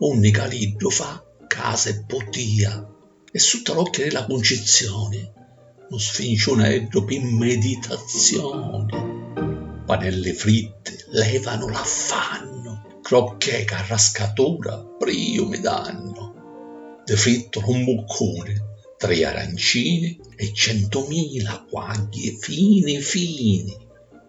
unni Caliddu fa casa e putìa, e sutta l'occhia di la Cuncizzioni, nu sfinciunaeddu pi meditazzioni. Panelli fritti levanu l'affannu, crocchè ca rascatura priumi dannu, di frittu lu mbuccuni, tri arancini e centumila quagghi fini fini.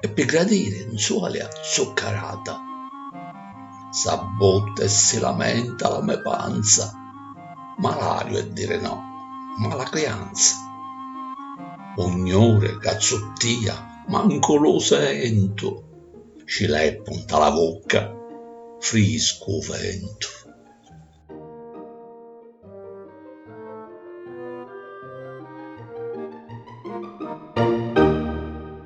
E pi gradiri 'nzualia zuccarata, s'abbutta e si lamenta la me panza, malariu è dire no, mala crianza. U 'gnuri ca zuttìa mancu lu sentu, ci leppu 'nta la vucca, friscu u ventu.